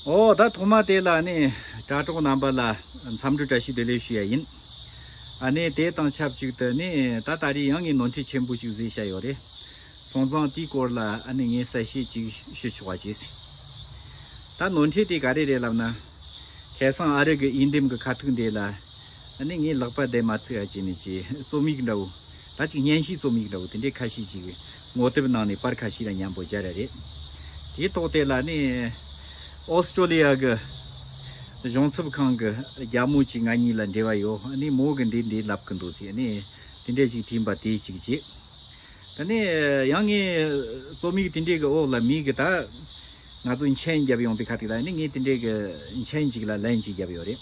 ཨོ་ད་ཐོག་མ་དེ་ལ་ནི་དྲ་གྲོགས་རྣམ་པ་ལ་འཚམས་འདྲི་བཀྲ་ཤིས་བདེ་ལེགས་ཞུ་ཡ་ཡིན། ཨ་ནི་དེ་དང་ཆབས་ཅིག་ཏུ་ནི་ད་ལྟ་རི་ཡང་ངས་ནོར་འཁྲིད་ཆེན་པོ་ཞིག་བཟོས་བཞག་ཡོད་རེད། སོང་ཙང་དེའི་སྐོར་ལ་ཨ་ནི་ངས་གསལ་བཤད་ཅིག་ཞུ་ཆོག་བ་བྱས་ཟིན། ད་ནོར་འཁྲིད་དེ་ག་རེ་རེད་ལབ་ན། ཁེ་སང་ཨ་རི་གི་དབྱིན་འདེམས་གི་ཁ་ཐུག་འདི་ལ་ཨ་ནི་ངས་ལག་པ་བསྡད་མ་ཚུད་ཨ་ཅེ་ནི་ཅེས་རྩོམ་ཡིག་འདྲ་བོ། ད་ཅིག་བརྙན་ཤིག་རྩོམ་ཡིག་འདྲ་བོ་དེ་འདྲའི་ཁ་ཤས་ཅིག། ངོ་དེབ་ནང་ནས་པར་ཁ་ཤས་ལ་མཉམ་པོ་སྦྱར་ཡ་རེད། དེའི་ཐོག་དེ་ལ་ནི Australia གི་གཞུང་ཚབ་ཁང་གི་རྒྱ་མོ་ཅིག་ང་གཉིས་ལ་འབྲེལ་བ་ཡོད་ནི་མོ་གི་འདི་འདི་ལབ་གི་འདུག་ཟེར་ནི་དེ་འདྲས་ཅིག་བྲིས་པ་དེ་ཅིག་རྗེས་ད་ནི་ཡང་ངས་རྩོམ་ཡིག་དེ་འདྲས་ཀྱི་འོག་ལ་མིག་གིས་ད་ང་ཚོ་མཆན་བརྒྱབ་ཡོང་པའི་ཁ་དེ་ལ་ནི་ངས་དེ་འདྲས་ཀྱི་མཆན་ཅིག་ལ་ལན་ཅིག་བརྒྱབ་ཡོད་རེད།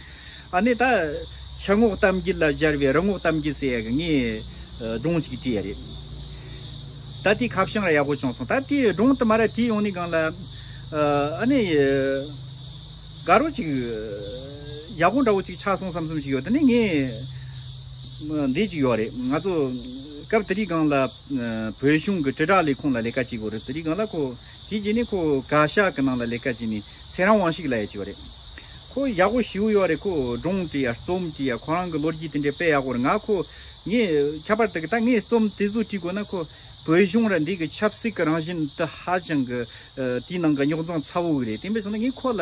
ཨ་ནི་ད། ཕྱི་ངོགས་གཏམ་རྒྱུད་ལ་སྦྱར་བའི་རི་ངོགས་གཏམ་རྒྱུད་ཟེར་ཡ་གི་ངས་སྒྲུང་གཅིག་བྲིས་ཡ་རེད། ད་དེའི་ཁ་བྱང་ར་ཡག་པོ་བྱུང་སོང་ད་དེའི་སྒྲུང་དུ་མ་ར་བྲིས་ཡོང་ནི་གང་ལ། ཨ་ནི། དགའ་རོགས་གཅིག། ཡག་པོ་འདྲ་བོ་གཅིག་ཆགས་སོང་བསམ་བསམ་ཞིག་ཡོད་ད་ནི་ངས། འདི་ཅིག་ཡོད་རེད་ང་ཚོ། སྐབས་དེ་དུས་སྒང་ལ་བོད་གཞུང་གི་དྲིལ་བསྒྲགས་ལས་ཁུངས་ལ་ལས་ཀ་བྱེད་དགོས་རེད་དེ་དུས་སྒང་ལ་ཁོ། དེ་རྗེས་ནས་ཁོ་བཀའ་ཤག་གི་ནང་ལ་ལས་ཀ་བྱས་ནས་ཚེ་རང་དབང་ཞིག་ལ་ཡ་བྱས་པ་རེད། ཁོ་ཡག་པོ་ཞི་བོ་ཡོད་རེད་ཁོ་སྒྲུང་དྲི་ཡ་རྩོམ་དྲི་ཡ་ཁོ་རང་གི་ལོ་རྒྱུས་དེ་འདྲ་སྤེལ་ཡག་པོ་རེད་ང་ཁོ། ངས་ཁྱད་པར་དུ་ད་ངས་རྩོམ་དེ་ཚོ་བྲིས་དགོས་ན་ཁོ། བོད་གཞུང་ར་འདི་གི་ཆབ་སྲིད་ཀྱི་རང་བཞིན་དེ་ཧ་ཅང་གི། དེའི་ནང་གི་རྙོག་འཛིང་ཚ་བོ་རེད་དེ་མིན་ཟེར་ན་ངས་ཁོ་ལ།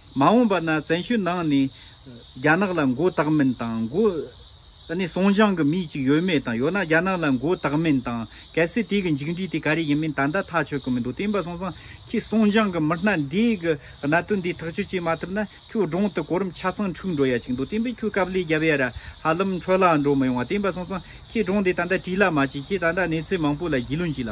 མ་འོངས་པ་ན་བཙན་བྱོལ་ནང་ནས་རྒྱ་ནག་ལ་མགོ་བཏགས་མིན་དང་མགོ། ད་ནི་སོང་ཞང་གི་མི་གཅིག་ཡོད་མེད་དང་ཡོད་ན་རྒྱ་ནག་ལ་མགོ་བཏགས་མིན་དང་གལ་སྲིད་དེ་གི་མཇིག་འབྲས་དེ་ག་རེ་ཡིན་མིན་ད་ལྟ་ཐག་ཆོད་གི་མི་འདུག་དེ་ཡིན་པ་སོང་ཙང་ཁྱེད་སོང་ཞང་གི་མི་སྣ་འདི་གི་གནད་དོན་འདི་ཐག་གཅོད་བྱེད་མ་ཐུབ་ན་ཁྱོད་གདྲོང་དུ་གོ་རིམ་ཆ་ཚང་འཁྲུག་འགྲོ་ཡ་ཅིག་འདུག་དེ་ཡིན་པས་ཁྱོད་སྐབས་ལས་རྒྱབ་ཡ་ར་ཧ་ལམ་འཕྲོ་བརླག་འགྲོ་མི་ཡོང་བ་དེ་ཡིན་པ་སོང་ཙང་ཁྱེད་གདྲོང་དེ་ད་ལྟ་བྲིས་ལ་མ་བྱེད་ཁྱེད་ད་ལྟ་གནས་ཚུལ་མང་པོ་ལ་རྒྱུས་ལོན་བྱས་ལ།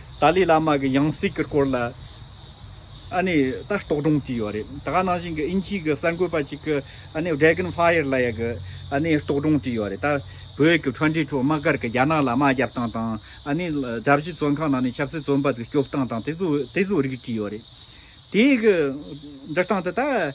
ཏཱ་ལའི་བླ་མ་གི་ཡང་སྲིད་ཀྱི་སྐོར་ལ་ཨ་ནི་ལྟ་རྟོག་སྒྲུང་བྲིས་ཡོད་རེད་ད་ག་ནང་བཞིན་གྱི་དབྱིན་ཇིའི་གི་གསར་འགོད་པ་ཅིག་གི་ཨ་ནི Dragon Fire ལ་ཡ་གི་ཨ་ནི་རྟོག་སྒྲུང་བྲིས་ཡོད་རེད་ད་བོད་ཀྱི་འཕྲོ་འབྲིང་ཁྲོད་དམག་སྒར་གི་རྒྱ་ནག་ལ་དམག་རྒྱབ་སྟངས་དང་ཨ་ནི་དགྲ་བཞི་བཙོན་ཁང་ནང་ནས་ཆབ་སྲིད་བཙོན་པ་ཚོ་སྐྱོབ་སྟངས་དང་དེ་ཚོ་དེ་ཚོ་རིགས་བྲིས་ཡོད་རེད་དེའི་གི་འབྲི་སྟངས་དེ་ད།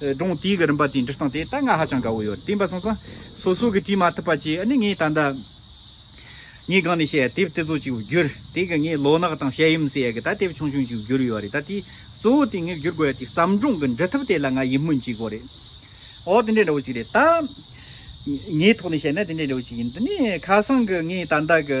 སྒྲུང་དེའི་གི་རིམ་པ་དེའི་འབྲི་སྟངས་དེ་ད་སྔ་ཧ་ཅང་དགའ་བོ་ཡོད་བསྟན་པ་ཚང་ཚང་སོ་སོ་གི་བྲིས་མ་ཐུབ་པ་བཅས་ཨ་ནི་ངས་ད་ལྟ་ངའི་སྒང་ནས་བཤད་དེབ་དེ་ཚོ་ཅིག་བསྒྱུར་དེའི་གི་ངས་ལོ་ནག་དང་བཤད་ཡུམ་ཟེར་ཡས་གི་ད་དེབ་ཆུང་ཆུང་ཅིག་བསྒྱུར་ཡོད་རེད་ད་དེའི་གཙོ་བོ་དེ་ངས་བསྒྱུར་དགོས་ཡ་དེའི་བརྩམས་སྒྲུང་གི་འབྲི་ཐབས་དེ་ལ་ང་ཡིད་སྨོན་སྐྱེས་དགོས་རེད་འོ་དེ་འདྲའི་འདྲ་བོ་ཅིག་རེད་ད། ངའི་ཐོག་ནས་བཤད་ན་དེ་འདྲའི་འདྲ་བོ་ཅིག་ཡིན་དེ་ནས་ཁ་སང་གི་ངས་ད་ལྟ་གི།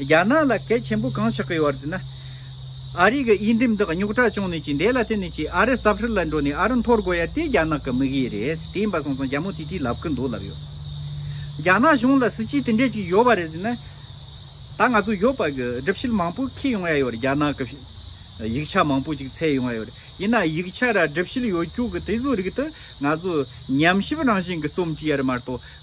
རྒྱ་ནག་ལ་གལ་ཆེན་པོ་གང་ཆགས་ཀྱི་བར་དུ་ན། ཨ་རི་གི་དབྱེ་འགྲིམ་དག་རྙོག་དྲ་བྱུང་ནས་ཅི་འདས་ལ་བརྟེན་ནས་ཅི་ཨ་རི་རྩབ་ཧྲལ་ལ་འགྲོ་ནས་ཨ་རི་འཐོར་དགོས་ཡ་དེ་རྒྱ་ནག་གི་དམིགས་ཡུལ་རེད་དེ་ཡིན་པ་སོང་ཙང་རྒྱ་མོ་དེ་དེ་ལབ་ཀྱི་འདུག་ལབ་ཡོད། རྒྱ་ནག་གཞུང་ལ་སྲིད་སྤྱི་དེ་འདྲས་ཅིག་ཡོད་པ་རེད་ཟེར་ན། ད་ང་ཚོ་ཡོད་པ་གི་སྒྲིབ་བཤིལ་མང་པོ་ཁེལ་ཡོང་ཡ་ཡོད་རེད་རྒྱ་ནག་གི་ཡིག་ཆ་མང་པོ་ཅིག་ཚད་ཡོང་ཡ་ཡོད་རེད་ཡིན་ན་ཡིག་ཆ་ར་སྒྲིབ་བཤིལ་ཡོད་རྒྱུ་གི་དེ་ཚོའི་རིགས་དུ་ང་ཚོ་ཉམས་ཞིབ་རང་བཞིན་གྱི་རྩོམ་ཅི་ཡ་རེད་མ་གཏོགས།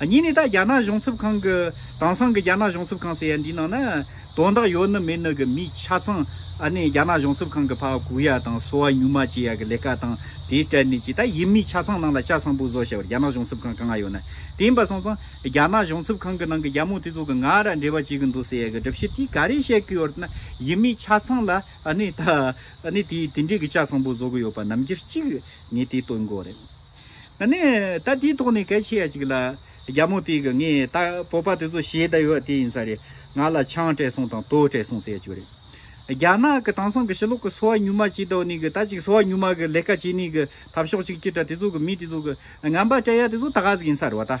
གཉིས་ནས་ད་རྒྱ་ནག་གཞུང་ཚབ་ཁང་གི་དེང་སང་གི་རྒྱ་ནག་གཞུང་ཚབ་ཁང་ཟེར་ཡ་འདིའི་ནང་ན་དོན་དག་ཡོད་ནི་མེད་ནི་གི་མི་ཆ་ཚང་ཨ་ནེ་རྒྱ་ནག་གཞུང་ཚབ་ཁང་གི་ཕག་གུག་ཡ་དང་གསོ་བ་ཉུང་མ་བྱེད་ཡ་གི་ལས་ཀ་དང་དེའི་སྤྲད་ནས་ཀྱི་ད་ཡིན་མི་ཆ་ཚང་ནང་ལ་ཤ་སངས་པོ་བཟོ་བྱ་བར་རྒྱ་ནག་གཞུང་ཚབ་ཁང་ག་ང་ཡོད་ན་དེ་ཡིན་པ་སོང་ཙང་རྒྱ་ནག་གཞུང་ཚབ་ཁང་གི་ནང་གི་རྒྱ་མོ་དེ་ཚོ་གི་ང་ར་འབྲེལ་བ་བྱེད་གི་འདུག་ཟེར་ཡ་གི་སྒྲུབ་བྱེད་དེ་ག་རེ་བཤད་གི་ཡོད་ན་ཡིན་མི་ཆ་ཚང་ལ་ཨ་ནེ་ད་ཨ་ནེ་དེ་དེ་འདྲའི་གི་ཤ་སངས་པོ་བཟོ་གི་ཡོད་པ་ནམ་རྒྱུ་གཅིག་ངས་དེ་སྟོན་དགོས་རེད། ད་ནི་ད་དེའི་ཐོག་ནས་གལ་ཆེ་ཡ་ཅིག་ལ། རྒྱ་མོ་དེ་གི་ངའི་ད་བོད་པ་དེ་ཚོ་ཞེད་ད་ཡོད་དེ་ཡིན་ས་རེད་ང་ལ་ཆང་སྤྲད་སོང་དང་དོ་སྤྲད་སོང་ཟེར་ཅིག་རེད། རྒྱ་ནག་གི་དང་སང་གི་ཕྱི་ལོག་གི་སོ་བ་ཉུལ་མ་ཅིག་དོ་ནི་གི་ད་ཅིག་སོ་བ་ཉུལ་མ་གི་ལས་ཀ་བྱེད་ནི་གི་ཐབས་ཤོག་ཅིག་ཅི་དྲ་དེ་ཚོ་གི་མི་དེ་ཚོ་གི་ངན་པ་སྤྲད་ཡ་དེ་ཚོ་ད་ག་ཟིག་ཡིན་ས་རེད་བ་ད།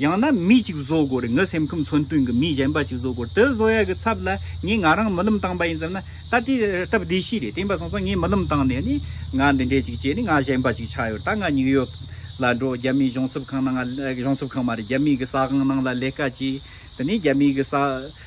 ཡང་ན་མི་གཅིག་བཟོ་དགོས་ངའི་སེམས་ཁམས་མཚོན་དོན་གྱི་མི་གཞན་པ་གཅིག་བཟོ་དགོས་དེ་བཟོ་ཡ་གི་ཚབ་ལ་ངས་ང་རང་རྨི་ལམ་བཏང་པ་ཡིན་ཙམ་ན་ད་དེ་སྟབས་བདེ་ཞིག་རེད་དེ་འབའ་སོང་སོང་ངས་རྨི་ལམ་བཏང་ནས་ནི་ང་འདི་འདྲས་ཅིག་བྱས་ནས་ང་གཞན་པ་ཅིག་ཆགས་ཡོད་ད་ང་ཉིག་ཡོག་ལ་འགྲོ་རྒྱ་མིའི་གཞུང་ཚབ་ཁང་ནང་གཞུང་ཚབ་ཁང་མ་རེད་རྒྱ་མིའི་གི་ས་ཁང་ནང་ལ་ལས་ཀ་བྱས་དེ་ནས་རྒྱ་མིའི་གི་ས་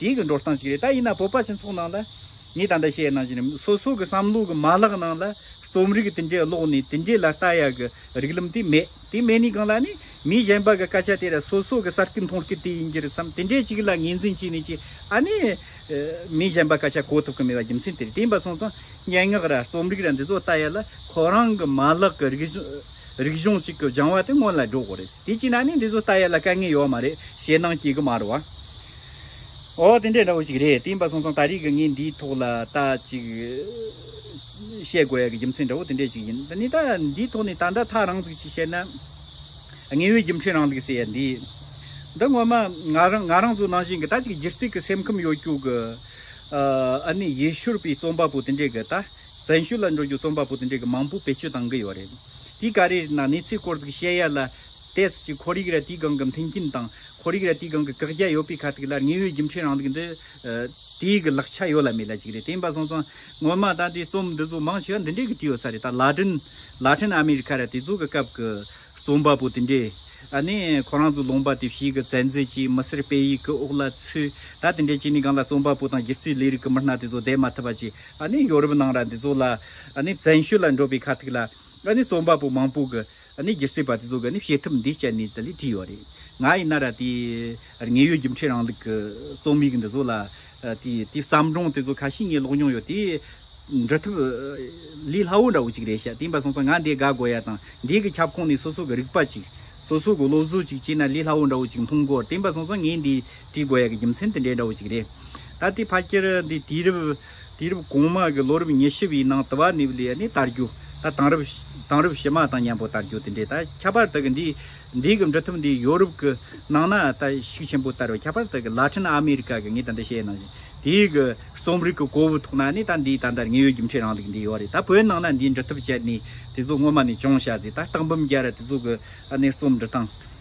དེང་གི་འགྲོ་སྟངས་ཤིག་རེད་ད་ཡིན་ན་བོད་པ་སྤྱི་ཚོགས་ནང་ལ་ངས་ད་ལྟ་བཤད་གནང་བཞིན་ནི་སོ་སོ་གི་བསམ་བློ་གི་མ་ལག་ནང་ལ་རྩོམ་རིག་དེ་འདྲའི་ཀློག་ནས་དེ་འདྲའི་ལ་ལྟ་ཡག་གི་རིགས་ལམ་དེ་མེད་དེ་མེད་ནི་གང་ལ་ནི་མི་གཞན་པ་གི་སྐད་ཆ་དེ་ར་སོ་སོ་གི་ས་སྐྱི་མཐོང་སྐྱི་དེ་ཡིན་གྱི་རེད་བསམ་དེ་འདྲའི་ཅིག་ལ་ངེས་འཛིན་བྱས་ནས་ཅིག་ཨ་ནི་མི་གཞན་པ་སྐད་ཆ་གོ་ཐུབ་གི་མེད་པ་རྒྱུ་མཚན་དེ་རེད་དེ་ཡིན་པ་སོང་ཙང་སྙན་ངག་ར་རྩོམ་རིག་ར་འདི་ཚོ་ལྟ་ཡག་ལ་ཁོ་རང་གི་མ་ལག་གི་རིགས་གཞུང་ཅིག་གི་སྦྱང་བ་དེ་སྔོན་ལ་འགྲོ་དགོས་རེད་དེ་གཅིག་ན་ནི་འདི་ཚོ་ལྟ་ཡག་ལ་དཀའ་ངལ་ཡོད་མ་རེད། ཞེད་སྣང་སྐྱེ་གི་མར་བ། འོ་དེ་འདྲས་འདྲ་བོ་ཞིག་རེད་དེ་འབའ་སོང་སོང་ད་རེས་ཀྱི་ངས་འདིའི་ཐོག་ལ་ལྟ་ཅིག་བཤད་དགོས་ཡ་གི་རྒྱུ་མཚན་འདྲ་བོ་དེ་འདྲས་ཞིག་ཡིན་ད་ནི་ད་འདིའི་ཐོག་ནས་ད་འདྲ་ཐག་རང་ཚུགས་ཅིག་བཤད་ན། དངོས་ཡོད་རྒྱུ་མཚན་རང་ལུགས་སེ་ཡ་འདི། འདི་ངོ་མ་ང་རང་ང་རང་ཚོ་ནང་བཞིན་གྱི་ད་ཅིག་སྒྱིར་བརྩིག་གི་སེམས་ཁམས་ཡོད་རྒྱུ་གི། ཨ་ནི་ཡེ་ཤུར་པའི་རྩོམ་པ་པོ་དེ་འདྲས་ཀྱི་ད་བཙན་ཤུལ་ལ་འགྲོ་རྒྱུ་རྩོམ་པ་པོ་དེ་འདྲས་ཀྱི་མང་པོ་བེད་སྤྱོད་བཏང་གི་ཡོད་རེད་དེ་ག་རེ་རེད་ན་གནས་ཚུལ་སྐོར་ཚིག་བཤད་ཡ་ལ། དེའི་ཚུལ་གྱིས་ཁོར་ཡུག་རལ་གྲིའི་སྒང་གི་མཐུན་རྐྱེན་དང་ཁོར་ཡུག་རལ་གྲིའི་སྒང་གི་བཀག་རྒྱ་ཡོད་པའི་ཁ་ཐུག་ལ་དངོས་ཡོད་རྒྱུ་མཚན་རང་བདག་འདི། དེའི་གི་ལག་ཆ་ཡོད་ལ་མེད་ལ་གཅིག་རེད་དེ་ཡིན་པ་སོང་ཙང་སྔོན་མ་ད་ལྟའི་རྩོམ་འདི་ཚོ་མང་ཆེ་བ་འདི་འདྲའི་གི་བྲིས་ཡོད་ས་རེད་ད་ལ་དྲིན། ལ་ཁྲིན་ཨ་མི་རི་ཁ་ར་དེ་ཚོ་གི་སྐབས་གི་རྩོམ་པ་པོ་དེ་འདྲས་ཨ་ནི་ཁོ་རང་ཚོ་ལུང་པ་དེ་བཞིའི་གི་བཙན་འཛུལ་གྱིས་མི་སེར་སྤེལ་ཡིག་གི་དབུགས་ལ་ཚུད་ད་དེ་འདྲས་ཀྱིས་ནི་སྒང་ལ་རྩོམ་པ་པོ་དང་སྒྱུ་རྩིས་ལས་རིགས་གི་མི་སྣ་དེ་ཚོ་བསྡད་མ་ཐུབ་པ་ཅིག་ཨ་ནི་ཡོ་རུབ་ནང་ར་འདི་ཚོ་ལ་ཨ་ནི་བཙན་ཤོས་ལ་འགྲོ་པའི་ཁ་ཐུག་ལ། ང་ནི་རྩོམ་པ་པོ་མང་པོ་གི་ནི་སྒྱུ་རྩལ་པ་དེ་ཚོ་གི་ནི་བྱེད་ཐབས་འདི་སྤྱད་ནས་དེ་ལས་བྲིས་ཡོད་རེད། ང་ཡིན་ན་ར་དེ་ངའི་ཡུལ་རྒྱུ་འཕྲད་རང་ལུགས་ཀྱི་རྩོམ་ཡིག་འདི་ཚོ་ལ་དེ་དེ་བརྩམས་སྒྲུང་དེ་ཚོ་ཁ་ཤས་ངས་ཀློག་མྱོང་ཡོད་དེ། འབྲི་ཐབས་ལས་སླ་བོ་འདྲ་བོ་ཅིག་རེད་ཤག་དེ་འབའ་སོང་ཙང་ང་འདི་དགའ་དགོས་ཡ་དང་འདི་གི་ཁྱབ་ཁོངས་ནས་སོ་སོ་གི་རིག་པ་ཅིག་སོ་སོ་གི་བློ་གཟུགས་ཅིག་སྤྱད་ན་ལས་སླ་བོ་འདྲ་བོ་ཅིག་མཐོང་དགོས་དེ་འབའ་སོང་ཙང་ངས་འདི་བྲིས་དགོས་ཡ་གི་རྒྱུ་མཚན་དེ་འདྲ་འདྲ་བོ་ཅིག་རེད། ད་ལྟའི་ཕ་སྐྱེར་འདི་དུས་རབས་དུས་རབས་གོང་མ་གི་ལོ་རབས་ཉེར་བཞི་བའི་ནང་དུ་བ་ནི་བ་ལི་ཡ་ནི་དར་རྒྱུ། ད་དང་རབས་དང་རབས་བྱེ་མ་དང་མཉམ་པོ་དར་རྒྱུ་དེ་འདྲའི་ད་ཁྱད་པར་དག་གི་འདི་འདི་གི་འབྲི་ཐབས་འདི་ཡོ་རུབ་གི་ནང་ན་ད་ཤུགས་ཆེན་པོ་དར་བའི་ཁྱད་པར་དག་གི་ལ་ཁྲིན་ཨ་མི་རི་ཀ་གི་ངས་ད་འདི་བཤད་ནང་བཞིན་དེ་གི་རྩོམ་རིག་གི་གོ་བུ་ཐོག་ན་ནི་ད་འདི་ད་འདར་ངེས་ཡོད་རྒྱུ་མཁྲེགས་རང་དག་འདི་ཡོ་རེད་ད་བོད་ནང་ན་འདི་འབྲི་ཐབས་སྤྱད་ནས་དེ་ཚོ་སྔོན་མ་ནས་བྱུང་བྱ་ཟིག་ད་སྟག་འབུམ་རྒྱལ་ར་དེ་ཚོ་གི་ཨ་ནེ་རྩོམ་འབྲི་སྟངས།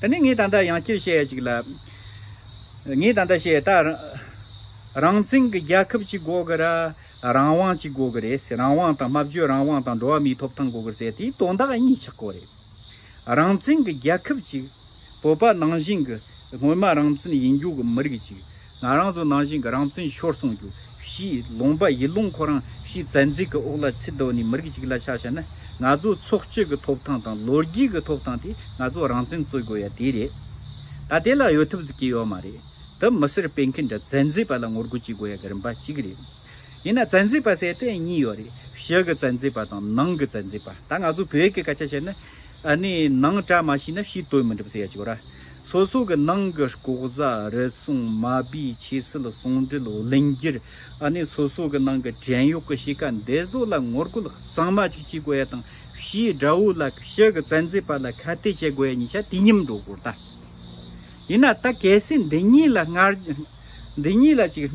ད་ནི་ངས་ད་ལྟ་ཡང་བསྐྱར་བཤད་ཅིག་ལ། ངས་ད་ལྟ་བཤད་ད། རང་བཙན་གྱི་རྒྱལ་ཁབ་ཅིག་དགོས་གི་རེད། རང་དབང་ཅིག་དགོས་གི་རེད་ཟེར་རང་དབང་དང་སྨྲ་བརྗོད་རང་དབང་དང་འགྲོ་བ་མིའི་ཐོབ་ཐང་དགོས་གི་རེད་ཟེར་དེའི་དོན་དག་གཉིས་ཆགས་གོ་རེད། རང་བཙན་གྱི་རྒྱལ་ཁབ་ཅིག། བོད་པ་ནང་བཞིན་གྱི་སྔོན་མ་རང་བཙན་ཡིན་རྒྱུ་གྱི་མི་རིགས་ཅིག། ང་རང་ཚོ་ནང་བཞིན་གྱི་རང་བཙན་ཤོར་སོང་རྒྱུ་བཞི་ལོང་པ་ཡིད་ལོང་ཁོ་རང་བཞིན་བཙན་འཛུལ་གྱི་དབུགས་ལ་ཚིལ་བརྡོལ་ནས་མི་རིགས་ཤིག་ལ་ཆགས་བྱས་ན་ང་ཚོའི་ཚོགས་སྤྱོད་ཀྱི་ཐོབ་ཐང་དང་ལོ་རྒྱུས་ཀྱི་ཐོབ་ཐང་དེ་ང་ཚོ་རང་བཙན་རྩོད་དགོས་ཡ་དེ་རེད། ད་དེ་ལ་གཡོལ་ཐུབ་ཟིག་གི་ཡོད་མ་རེད། འདི་མི་སེར་སྤེལ་མཁན་འདྲ་བཙན་འཛུལ་པ་ལ་ངོ་རྒོལ་བྱེད་དགོས་ཡ་གི་རིམ་པ་གཅིག་རེད། ཡིན་ན་བཙན་འཛུལ་པ་ཟེར་ཏེ་གཉིས་ཡོད་རེད་ཕྱི་གི་བཙན་འཛུལ་པ་དང་ནང་གི་བཙན་འཛུལ་པ་ད་ང་ཚོ་བོད་ཀྱི་སྐད་ཆ་བཤད་ན་ཨ་ནི་ནང་བཀྲ་མ་ཤིས་ན་ཕྱིའི་དོན་མི་འགྲུབ་ཟེར་ཡ་གཅིག་གོ་ར། སོ་སོ་གི་ནང་གི་ལྐོག་ཟ་རུལ་སུངས་མ་སྦི་ཆེ་སིལ་ཟུང་འབྲེལ་བརླིང་རྒྱུར་ཨ་ནི་སོ་སོ་གི་ནང་གི་བྲན་གཡོག་གི་གཤིས་ཀ་འདི་བཟོ་ལ་ངོ་རྒོལ་གཙང་མ་ཅིག་བྱེད་དགོས་ཡ་དང་ཕྱིའི་དགྲ་བོ་ལ་ཕྱི་གི་བཙན་འཛུལ་པ་ལ་ཁ་གཏད་བྱེད་དགོས་ཡ་གཉིས་ཆ་དུས་མཉམ་འགྲོ་དགོས་ར། ཡིན་ན་ད་གལ་སྲིད་འདི་གཉིས་ལ་སྔར་འདི་གཉིས་ལ་ཅིག།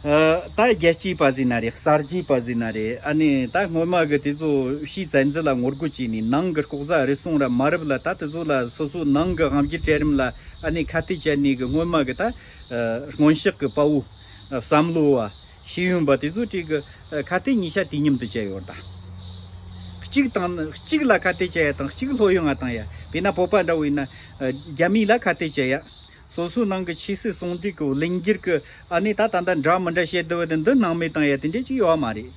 ད་རྒྱལ་སྤྱིའི་པ་ཟི་ན་རེད་གསར་བརྗེའི་པ་ཟི་ན་རེད་ཨ་ནི་ད་སྔོན་མ་གི་དེ་ཚོ་ཕྱིའི་བཙན་འཛུལ་ལ་ངོ་རྒོལ་བྱས་ནས་ནང་གི་ལྐོག་ཟ་རུལ་སུངས་ར་མ་རུབ་ལ་ད་དེ་ཚོ་ལ་སོ་སོའི་ནང་གི་དབང་སྒྱུར་གྲལ་རིམ་ལ་ཨ་ནི་ཁ་གཏད་བཅད་ནས་གི་སྔོན་མ་གི་ད་སྔོན་གཤེགས་གི་དཔའ་བོ་བསམ་བློ་བ་ཤེས་ཡོན་པ་དེ་ཚོ་གྲས་གི་ཁ་གཏད་ཉིས་ཆ་དུས་མཉམ་དུ་བཅད་ཡོད་ད། གཅིག་དང་གཅིག་ལ་ཁ་གཏད་བཅད་ཡ་དང་གཅིག་ལྷོད་ཡོད་ང་དང་ཡ་དེ་ན་བོད་པ་འདྲ་བོ་ཡིན་ན་རྒྱ་མི་ལ་ཁ་གཏད་བཅད་ཡ། སོ་སོའི་ནང་གི་ཆོས་སྲིད་ཟུང་འབྲེལ་གྱི་གླེང་རྒྱུར་གི་ཨ་ནི་ད་ད་ལྟ་འདྲ་མི་འདྲ་བཤད་བསྡད་པ་དེ་འདི་སྣང་མེད་དང་ཡ་དེ་འདྲས་ཅིག་ཡོད་མ་རེད།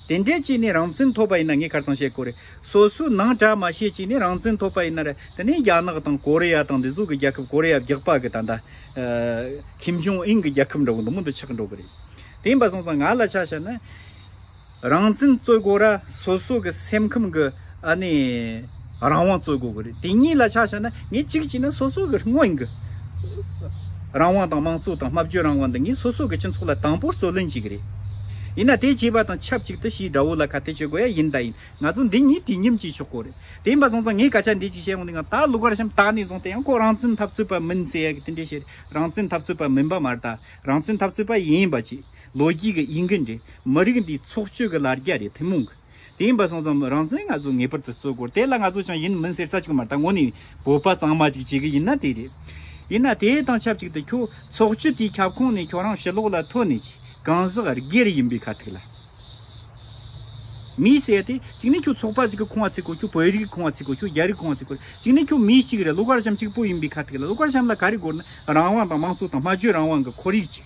དེ་འདྲས་ཅིག་ནས་རང་བཙན་ཐོབ་པ་ཡིན་ན་ངས་ཁར་ཚང་བཤད་དགོས་རེད། སོ་སོའི་ནང་གྲ་མ་བཤད་ཅིག་ནས་རང་བཙན་ཐོབ་པ་ཡིན་ན་རེད་དེ་ནས་རྒྱ་ནག་དང་ཀོ་རི་ཡ་དང་འདི་ཟུག་གི་རྒྱལ་ཁབ་ཀོ་རི་ཡ་བརྒྱག་པ་གི་ད་ད་ཁིམ་ཇུང་ཨིན་གི་རྒྱལ་ཁབ་འདྲ་བོ་འདི་མོ་འདི་ཆགས་འགྲོ་གི་རེད། དེ་ཡིན་པ་སོང་ཙང་ང་ལ་ཆ་བཤད་ན། རང་བཙན་རྩོད་དགོས་ར་སོ་སོ་གི་སེམས་ཁམས་ཀྱི་ཨ་ནི་རང་དབང་རྩོད་དགོས་ཀྱི་རེད་དེ་གཉིས་ལ་ཆ་བཞག་ན་ངས་གཅིག་བྱས་ན་སོ་སོ་གི་སྔོན་གྱི་རང་དབང་དང་དམངས་གཙོ་དང་སྨྲ་བརྗོད་རང་དབང་འདི་གཉིས་སོ་སོ་གི་སྤྱི་ཚོགས་ལ་དང་པོར་རྩོད་ལེན་བྱེད་ཀྱི་རེད། ཡིན་ན་དེ་བྱས་པ་དང་ཆབས་ཅིག་ཏུ་ཕྱིའི་དགྲ་བོ་ལ་ཁ་གཏད་གཅོད་དགོས་ཡ་ཡིན་ད་ཡིན་ང་ཚོ་འདི་གཉིས་དུས་མཉམ་བྱས་ཆོག་གོ་རེད་དེ་ཡིན་པ་སོང་ཙང་ངས་སྐད་ཆ་འདི་གཅིག་བཤད་ཡོང་དུས་ཡང་ད་ལུག་བར་གཤམ་དག་ནས་བཟུང་དེ་ཡང་ཁོ་རང་བཙན་འཐབ་རྩོད་པ་མིན་ཟེར་ཡ་གི་དེ་འདྲས་བཤད་རེད་རང་བཙན་འཐབ་རྩོད་པ་མིན་པ་མ་རེད་ད་རང་བཙན་འཐབ་རྩོད་པ་ཡིན་པ་གཅིག་ལོ་རྒྱུས་ཀྱི་དབྱིན་ཀི་འདྲེ་མི་རིགས་འདིའི་ཚོགས་སྤྱོད་ཀྱི་ལར་རྒྱ་རེད་ཐུན་མོང་གི་དེ་ཡིན་པ་སོང་ཙང་རང་བཙན་ང་ཚོ་ངེས་པར་དུ་རྩོད་དགོས་དེ་ལ་ང་ཚོ་ཅང་ཡིན་མིན་ཟེར་ས་ཅིག་མ་རྟ་ངོ་ནས་བོད་པ་གཙང་མ་ཅིག་བྱེད་གི་ཡིན་ན་དེ་རེད། ཡིན་ན་དེ་དང་ཆབས་ཅིག་ཏུ་ཁྱོད་ཚོགས་སྤྱོད་དེའི་ཁྱབ་ཁོངས་ནས་ཁྱོད་རང་ཕྱི་ལོག་ལ་ཐོན་ནས་ཀྱི་གང་ཟག་སྒེར་ཡིན་པའི་ཁ་ཐུག་ལ་མི་བྱེད་དེ་གཅིག་ནས་ཁྱོད་ཚོགས་པ་ཅིག་གི་ཁོངས་བ་ཚིག་གོ་ཁྱོད་བོད་རིགས་ཀྱི་ཁོངས་བ་ཚིག་གོ་ཁྱོད་རྒྱ་རིགས་ཀྱི་ཁོངས་བ་ཚིག་གོ་གཅིག་ནས་ཁྱོད་མི་གཅིག་རེད་ཀླུ་མཁར་བྱམས་གཅིག་པོ་ཡིན་པའི་ཁ་ཐུག་ལ་ཀླུ་མཁར་བྱམས་ལ་ག་རེ་དགོས་ན་རང་དབང་དང་དམངས་གཙོ་དང་སྨྲ་བརྗོད་རང་དབང་གི་ཁོར་ཡུག་ཅིག།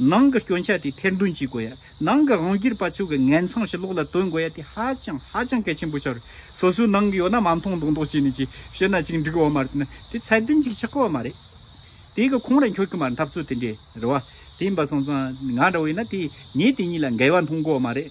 ནང་གི་སྐྱོན་ཆ་དེ་ཐེར་འདོན་བྱེད་དགོས་ཡ། ནང་གི་དབང་སྒྱུར་པ་ཚོས་གི་ངན་མཚང་ཞིག་ལོག་ལ་སྟོན་དགོས་ཡ་དེ་ཧ་ཅང་ཧ་ཅང་གལ་ཆེན་པོ་ཆགས་རེད། སོ་སོའི་ནང་གི་ཡོད་ན་མ་མཐོང་མདོག་མདོག་བྱས་ནས་ཅིག་བཤད་ན་ཅིག་འགྲིག་འོ་མ་རེད་ན་དེ་ཚད་ལྡན་ཅིག་ཆགས་གོ་བ་མ་རེད། དེ་གི་ཁོང་ར་འཁྱོལ་གི་མ་རེད་འཐབ་རྩོད་དེ་འདྲའི་རེད་བ། དེ་ཡིན་པ་སོང་ཙང་ང་ར་བས་ན་དེ་ངས་དེ་གཉིས་ལ་འགལ་བ་མཐོང་གོ་བ་མ་རེད།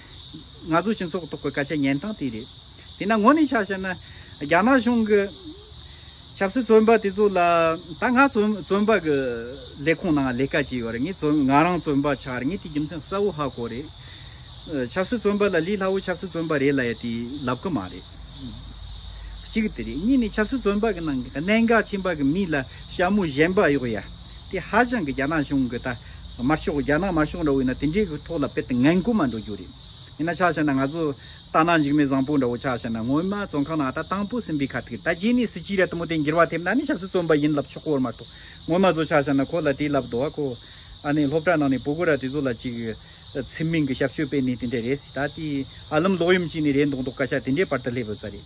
ང་ཚོ་སྤྱི་ཚོགས་ཐོག་གི་སྐད་ཆ་ཉན་སྟངས་དེ་རེད། དེས་ན་ངོ་ནས་ཆ་བཤད་ན། རྒྱ་ནག་གཞུང་གི་ཆབ་སྲིད་བཙོན་པ་དེ་ཚོ་ལ་ད་ང་བཙོན་པ་གི་ལས་ཁུངས་ནང་ལས་ཀ་བྱས་ཡོད་རེད་ངས་ང་རང་བཙོན་པ་ཆགས་རེད་ངས་དེ་རྒྱུ་མཚན་གསལ་བོ་ཧ་གོ་རེད། ཆབ་སྲིད་བཙོན་པ་ལ་ལི་ལྷ་བུ་ཆབ་སྲིད་བཙོན་པ་རེད་ལ་ཡ་དེ་ལབ་གི་མ་རེད། གཅིག་དེ་རེད་གཉིས་ནས་ཆབ་སྲིད་བཙོན་པ་གི་ནང་གི་གནད་འགག་ཆེན་པ་གི་མི་ལ་ཞྭ་མོ་བཞེན་པ་གཡོགས་ཡ་དེ་ཧ་ཅང་གི་རྒྱ་ནག་གཞུང་གི་ད། དམར་ཤོག་རྒྱ་ནག་དམར་ཤོག་འདྲ་བོ་ཡིན་ན་དེ་འདྲའི་ཐོག་ལ་དཔེ་དེ་ངན་དགུ་མ་འགྲོ་རྒྱུ་རེད། ཡིན་ན་ཆ་ཤས་ན་ང་ཚོ་ལྟ་ན་འཇིགས་མེད་བཟང་པོ་འདྲ་བོ་ཆ་ཤས་ན་ངོ་མ་བཙོན་ཁང་ན་ཨ་ད་དང་པོ་སིམ་པའི་ཁ་ཐུག་ད་རྗེས་ནས་སྲིད་སྤྱིའི་ར་དུམ་བུ་དེ་འགྱུར་བ་ཐེབས་ན་ནི་ཆབ་སྲིད་བཙོན་པ་ཡིན་ལབ་ཆོག་གོ་མ་གཏོགས་ངོ་མ་བཟོ་ཆ་ཤས་ན་ཁོ་ལ་དེའི་ལབ་དོ་ཨ་ཁོ་ཨ་ནི་སློབ་གྲྭ་ནང་ནས་པོ་གོ་ར་དེ་ཚོ་ལ་ཅིག་ཚིམ་མིན་གྱི་ཞབས་ཞུ་སྤེལ་ནི་དེ་འདྲ་རེད་སྲིད་ད་དེའི་ཨ་ལུམ་ལོག་ཡུམ་ཅིག་ནི་རེད་མདོག་མདོག་སྐད་ཆ་དེ་འདྲའི་བར་དུ་སླེབས་ཡོད་ས་རེད།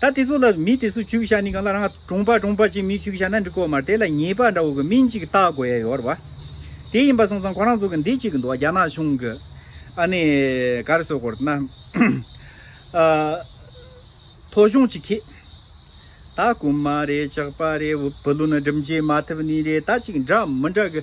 ད་དེ་ཚོ་ལ་མི་དེ་ཚོ་བྱུག་བྱ་ནི་གང་ལ་རང་གྲོང་པ་གྲོང་པ་ཅིག་མི་བྱུག་བྱ་ན་འགྲིག་གོ་མར་དེ་ལ་ཉེས་པ་འདྲ་བོ་གི་མིང་ཅིག་བཏགས་དགོས་ཡ་ཡོད་ར། དེ་ཡིན་པ་སོང་ཙང་ཁོ་རང་ཚོ་གི་འདི་ཅིག་འདུག་རྒྱ་ནག་གཞུང་གི་ཨ་ནི་ག་རེ་ཟོ་དགོས་ར་ན། ཨ། ཐོ་གཞུང་ཅིག་ཁེ། ད་རྐུ་མ་རེད་ཅག་པ་རེད་བུ་ལུ་ནི་སྒྲིམ་བྱེད་མ་ཐུབ་ནི་རེད་ད་ཅིག་འདྲ་མི་འདྲ་གི།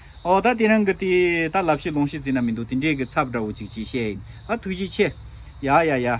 ཨོ་ད་དེ་རང་གི་དེ་ད་ལབ་ཤི་ལོང་ཤི་ཟིན་ན་མི་འདུག་དེ་འདྲས་ཀྱི་ཚབ་འདྲ་བོ་ཅིག་བྱེད་ཤེས། ཨ་ཐུགས་རྗེ་ཆེ། ཡ་ཡ་ཡ།